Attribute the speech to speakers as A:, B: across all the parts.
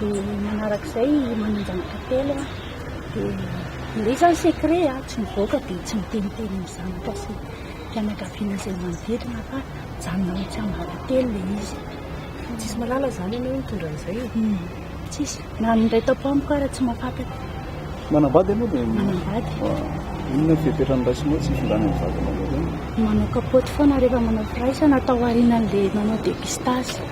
A: dia manaraka izay manonja ny kapela dia ilay izy zany secret a tsy mivoaka dia tsy miteniteny ny zanaka sy fianakaviana izay manodidina fa mijanona ao tsiambaratelo ilay izy tsisy malala
B: zany ianao mitondra an'izay e hmm. tsisy
A: na ny iray tapo amiko ara tsy mafantatra manambady
C: ianao dia manambady inona fiapetrany raisinao tsy findrana ny vadinao manao kapoty
A: foana rehefa manao firaisana atao aorianan'ilay manao dépistage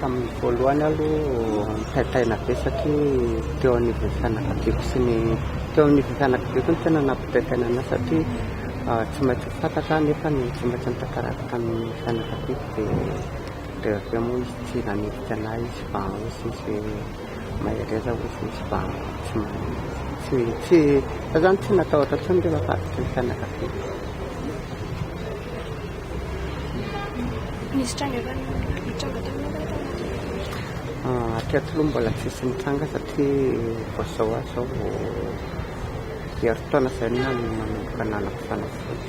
D: Tamin'ny voalohany aloha nitaitaina be satria teo anivon'ny fianakaviako sy ny teo anivon'ny fianakaviako no tena nampitaitaina an'ahy satria tsy maintsy ho fantatra aho nefa ny tsy maintsy nitantarako tamin'ny fianakaviako dia dia avy eo moa izy tsy nanilika an'ahy izy fa hozy izy hoe mahereza hozy izy fa tsy tsy tsy za zany tsy natahotra intsony rehefa faritry ny fianakaviako.
A: Nisy tranga efa nitranga tamin'ny ora tao anatin'ny Ah,
D: hatreto aloha mbola tsisy nitranga satria vao zao aho zao vao herintaona zay no nanomboka nanako fanafody.